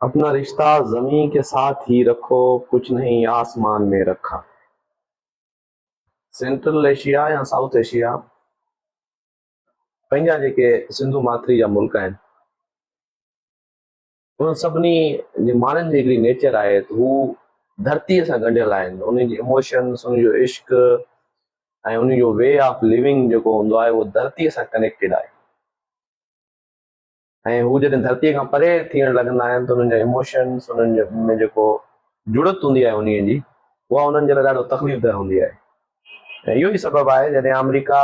اپنا رشته زمين ڪي ساٿ هي رکو ڪچھ نهين آسمان مين رکا سينٽرل ايشيا يا سائوٿ ايشيا پنهنجا جيڪي سنڌو ماٿري جا ملڪ آهن ان سڀني جي ماڻهن جي هڪڙي نيچر آهي ته هو ڌرتيء سان ڳنڍيل آهن انهن جي اموشنس انهن جو عشق ۽ انهن جو وي آف ليونگ جيڪو هوندو آهي اهو ڌرتيء سان ڪنيڪٽيڊ آهي ۽ هو جڏهن ڌرتيء کان پري ٿيڻ لڳندا آهن ته انهن جا ايموشنس انهن ۾ جيڪو جڙت هوندي آهي انهيء جي اها انهن جي لاء ڏاڍو تڪليف ده هوندي آهي ۽ اهو ئي سبب آهي جڏهن آمريڪا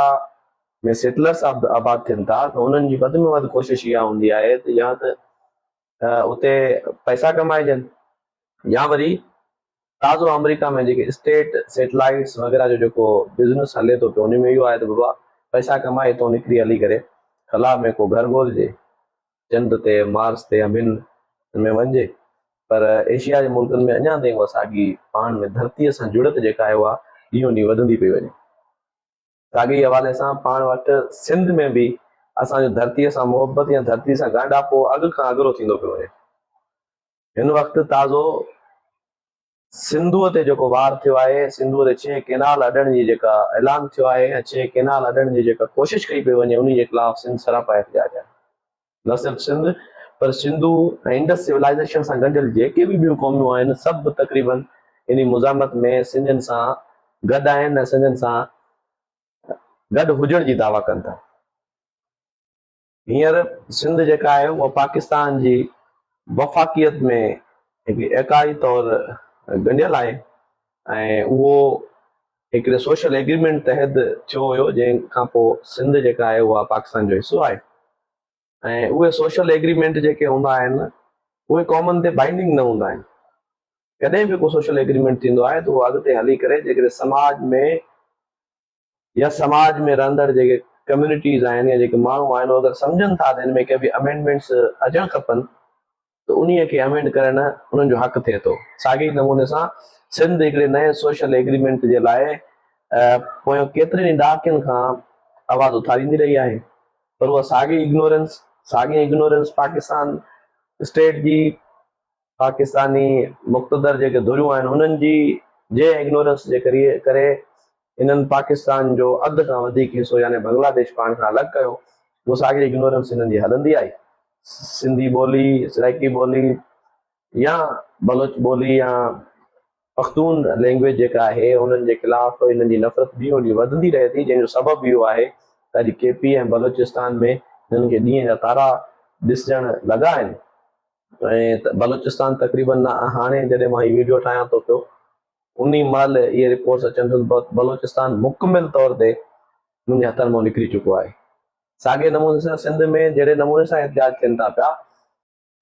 ۾ سيٽلرس آباد ٿين ٿا ته انهن جي وڌ ۾ وڌ ڪوشش اها هوندي آهي ته يا ته اتي پئسا ڪمائجن يا وري تازو آمريڪا ۾ جيڪي اسٽيٽ سيٽلائيٽس وغيره جو جيڪو بزنس هلي ٿو پيو انهي ۾ اهو آهي ته بابا پئسا ڪمائي اتو نڪري هلي ڪري خلا ۾ ڪو گهر ڳولجي چنڊ تي مارس تي همين ۾ وڃجي پر ايشيا جي ملڪن ۾ اڃان تائين اها ساڳي پاڻ ۾ ڌرتي سان جڙت جيڪا آهي اها ڏينهون ڏينهن وڌندي پئي وڃي ساڳي ئي حوالي سان پاڻ وٽ سنڌ ۾ به اسان جو ڌرتي سان محبت يا ڌرتي سان ڳانڊاپو اڳ کان اڳرو ٿيندو پيو وڃي هن وقت تازو سنڌوء تي جيڪو وار ٿيو آهي، سنڌوء تي ڇهه ڪينال اڏڻ جي جيڪا اعلان ٿيو آهي ۽ ڇهه ڪينال اڏڻ جي جيڪا ڪوشش ڪئي پئي وڃي انهي جي خلاف سنڌ سراپا احتجاج آهي. نه صرف سنڌ پر سنڌو ۽ انڊس سولائيزيشن سان ڳنڍيل جيڪي به ٻيون قوميون آهن سڀ تقريباً انهي مزاحمت ۾ سنڌين سان گڏ آهن ۽ سنڌين سان گڏ هجڻ جي دعويٰ ڪن ٿا. هينئر سنڌ جيڪا آهي اها پاڪستان جي وفاقيت ۾ هڪ ايڪاهي طور ڳنڍيل آهي ۽ اهو هڪڙي سوشل ايگريمينٽ تحت ٿيو هيو جنهن کان پوء سنڌ جيڪا آهي اها پاڪستان جو حصو آهي ۽ اهي سوشل ايگريمينٽ جيڪي هوندا آهن اهي قومن تي بائنڊنگ نه هوندا آهن ڪڏهن به ڪو سوشل ايگريمينٽ ٿيندو آهي ته اهو اڳتي هلي ڪري جيڪڏهن سماج ۾ يا سماج ۾ رهندڙ جيڪي ڪميونٽيز آهن يا جيڪي ماڻهو آهن اگر سمجهن ٿا ته ان ۾ ڪي به امينڊمينٽس اچڻ کپن ته انهي کي امينڊ ڪرڻ انهن جو حق ٿئي ٿو ساڳي ئي نموني سان سنڌ هڪڙي نئين سوشل ايگريمينٽ جي لاء پويان ڪيترين ئي ڏهاڪين کان آواز اٿاريندي رهي آهي پر اها ساڳي اگنورنس ساڳي اگنورنس پاڪستان اسٽيٽ جي پاڪستاني مقتدر جيڪي ڌريون آهن انهن جي جي اگنورنس جي ڪري انهن پاڪستان جو اڌ کان وڌيڪ حصو يعني بنگلاديش پاڻ کان الڳ ڪيو اهو ساڳي اگنورنس انهن جي هلندي آئي سنڌي ٻولي سرائيڪي ٻولي يا بلوچ ٻولي يا پختون لينگويج جيڪا آهي انهن جي خلاف انهن جي نفرت ڏينهون ڏينهن وڌندي رهي ٿي جنهن جو سبب اهو آهي ته اڄ ڪي پي ۽ بلوچستان ۾ انهن کي ڏينهن جا تارا ڏسجڻ لڳا آهن ۽ بلوچستان تقريبن هاڻي جڏهن مان هي ويڊيو ٺاهيان ٿو پيو انهي مهل اهي رپورٽس اچن ٿيون ته بلوچستان مڪمل طور تي منهنجي هٿن مان نڪري چڪو آهي ساڳي نموني سان سنڌ ۾ جهڙي نموني سان احتجاج ٿين ٿا پيا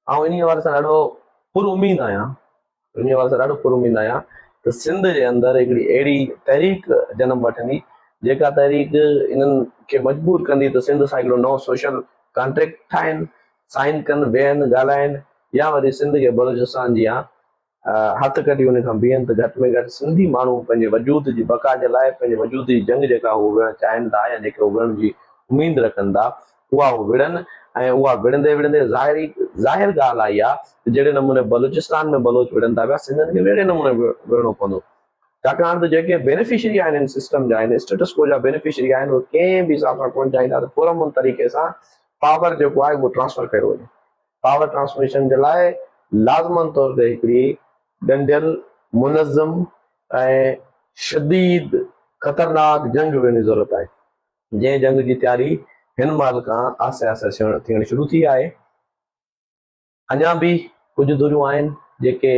آئون انهي حوالي سان ڏاڍو پر اميد آهيان ان حوالي سان ڏاڍو پر اميد آهيان ته سنڌ جي اندر هڪڙي اهڙي تحريڪ جنم وٺندي جيڪا تحريڪ انهن کي مجبور ڪندي ته سنڌ سان هڪڙو نئون سوشل ڪانٽريڪٽ ٺاهين، سائين ڪن، ويهن، ڳالهائين يا وري سنڌ کي بلوچستان جيان هٿ ڪڍي ان کان بيهن ته گهٽ ۾ گهٽ سنڌي ماڻهو پنهنجي وجود جي بقا جي لاء پنهنجي وجود جي جنگ جيڪا هو وڙهڻ چاهين ٿا يا جيڪي هو وڙهڻ جي اميد رکن ٿا اها وڙهن ۽ اها وڙهندي وڙهندي ظاهري ظاهر ڳالهه آئي آ ته جهڙي نموني بلوچستان ۾ بلوچ وڙهن ٿا پيا سنڌين کي به اهڙي نموني وڙهڻو پوندو ڇاڪاڻ ته جيڪي بينيفشري آهن ان سسٽم جا ان اسٽيٽس ڪو جا بينيفشري آهن اهي ڪنهن به حساب سان ڪونه چاهيندا ته پرامن طريقي سان پاور جيڪو آهي اهو ٽرانسفر ڪيو وڃي پاور ٽرانسميشن جي لاء لازمن طور تي هڪڙي ڳنڍيل منظم ۽ شديد خطرناڪ جنگ وڙهڻ جي ضرورت آهي جنهن جنگ جي تياري هن مهل کان آهستي آهستي ٿيڻ شروع ٿي آهي. اڃا به ڪجهه ڌريون آهن جيڪي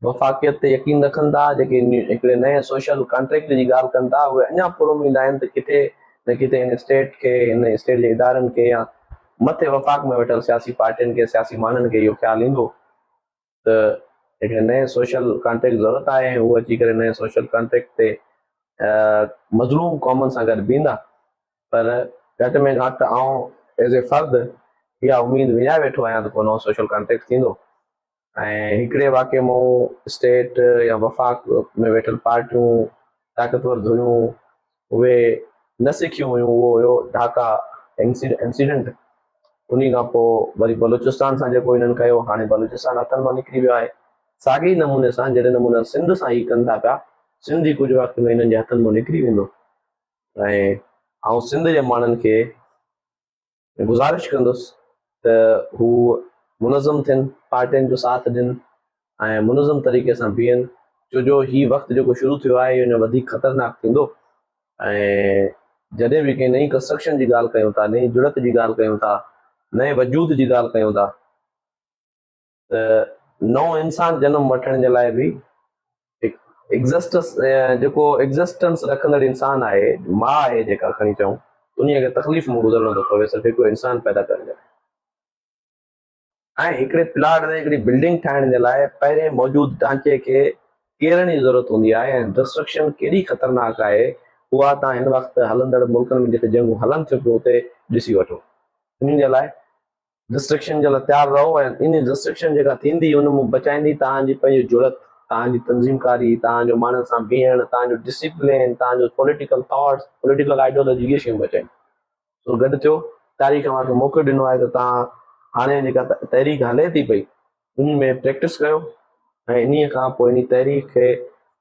وفاقيت تي يقين رکن ٿا، جيڪي هڪڙي نئين سوشل ڪانٽريڪٽ جي ڳالهه ڪن ٿا، اهي اڃا پراميد آهن ته ڪٿي نه ڪٿي هن اسٽيٽ کي، هن اسٽيٽ جي ادارن کي يا مٿي وفاق ۾ ويٺل سياسي پارٽين کي، سياسي ماڻهن کي اهو خيال ايندو ته هڪڙي نئين سوشل ڪانٽريڪٽ ضرورت آهي ۽ هو اچي ڪري نئين سوشل ڪانٽريڪٽ تي مظلوم قومن سان گڏ بيهندا پر گهٽ ۾ گهٽ آئون ايز اي فرد اها اميد وڃائي ويٺو آهيان ته ڪو نئون سوشل ڪانٽريڪٽ ٿيندو ۽ هڪڙي واقعي مون اسٽيٽ يا وفاق ۾ ويٺل پارٽيون طاقتور ڌريون اهي نه سکيون هيون اهو هيو ڍاڪا انسيڊنٽ انهي کان پوء وري بلوچستان سان جيڪو هنن ڪيو هاڻي بلوچستان هٿن مان نڪري ويو آهي ساڳي نموني سان جهڙي نموني سنڌ سان هي ڪن ٿا پيا سنڌ به ڪجهه وقت ۾ هنن جي هٿن مان نڪري ويندو ۽ آئون سنڌ جي ماڻهن کي ۾ گذارش ڪندس ته هو منظم ٿين، پارٽين جو ساٿ ڏين ۽ منظم طريقي سان بيهن ڇو جو هي وقت جيڪو شروع ٿيو آهي اهو اڃا وڌيڪ خطرناڪ ٿيندو ۽ جڏهن به ڪنهن نئين ڪنسٽرڪشن جي ڳالهه ڪيون ٿا، نئين جڙت جي ڳالهه ڪيون ٿا، نئين وجود جي ڳالهه ڪيون ٿا. ته نئون انسان جنم وٺڻ جي لاء به هڪ ايگزسٽس جيڪو ايگزسٽنس رکندڙ انسان آهي، ماء آهي جيڪا کڻي چئون، انهيء کي تڪليف مان گذرڻو ٿو پوي صرف هڪڙو انسان پيدا ڪرڻ جي لاء. ۽ هڪڙي پلاٽ تي هڪڙي بلڊنگ ٺاهڻ جي لاء پهرين موجود ڍانچي کي ڪيرڻ جي ضرورت هوندي آهي ۽ ڊسٽرڪشن ڪيڏي خطرناڪ آهي اها توهان هن وقت هلندڙ ملڪن ۾ جتي جنگون هلن ٿيون پيون اتي ڏسي وٺو. انهن جي لاء ڊسٽرڪشن جي لاء تيار رهو ۽ ان ڊسٽرڪشن جيڪا ٿيندي ان مون بچائيندي توهان جي پنهنجي جرئت توهان جي تنظيم ڪاري توهان جو ماڻهن سان بيهڻ توهان جو ڊسيپلين توهان جو پوليٽيڪل ٿاٽس پوليٽيڪل آئيڊيولوجي اهي شيون بچائيندي سو گڏ ٿيو تاريخ اوهان کي موقعو ڏنو آهي ته توهان هاڻي جيڪا تحريڪ هلي ٿي پئي انهي ۾ پريڪٽس ڪيو ۽ انهي کان پوء انهي تحريڪ کي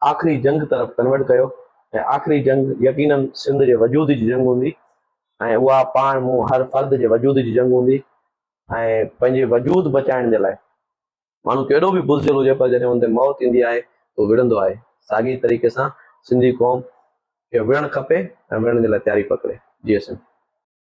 آخري جنگ طرف ڪنورٽ ڪيو ۽ آخري جنگ يقيناً سنڌ جي وجود جي جنگ هوندي ۽ اها پاڻ مون هر فرد جي وجود جي جنگ هوندي ۽ پنهنجي وجود بچائڻ جي لاء ماڻهو ڪيڏو به بزدل هجي پر جڏهن ان تي موت ايندي آهي ته هو وڙهندو آهي ساڳي طريقي سان سنڌي قوم کي وڙهڻ کپي ۽ وڙهڻ جي لاء تياري پڪڙي جي سنڌ.